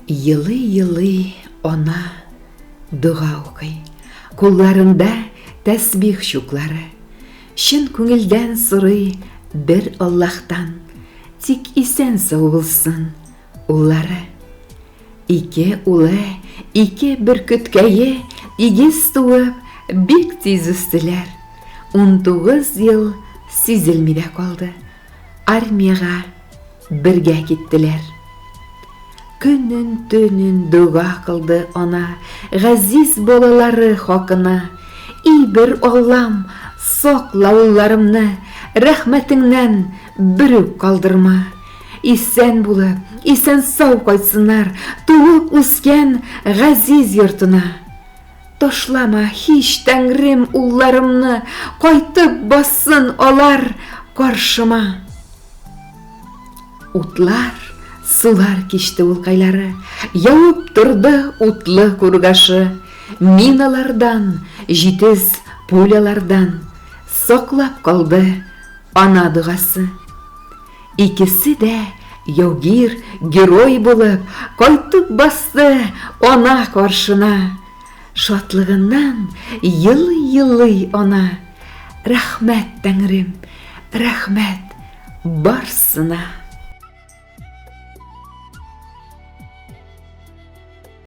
Елый-елый ана дога укый. Кулларында тәсбих чуклары. Чын күңелдән сорый бер Аллаһтан. Тик исән сау булсын уллары. Ике улы, ике бөркеткәе игез туып, бик тиз үстеләр. 19 ел сизелми дә калды. армиягә бергә киттеләр. Көнен төнен дога кылды ана, газиз балалары хакына. И бер Аллам, сакла улларымны, рәхмәтеңнән бер үк калдырма. Исән булып, исән сау кайтсыннар туып үскән газиз йортына. Ташлама, һич, Тәңрем, улларымны, Кайтып бассын алар каршыма. Утлар, сулар кичте ул кайлары, Явып торды утлы кургашы. Мин алардан, җитез пулялардан, Саклап калды ана догасы. Икесе дә яугир, герой булып, кайтып басты ана каршына. Шатлыгыннан елый-елый ана. Рәхмәт, Тәңрем, рәхмәт барсына.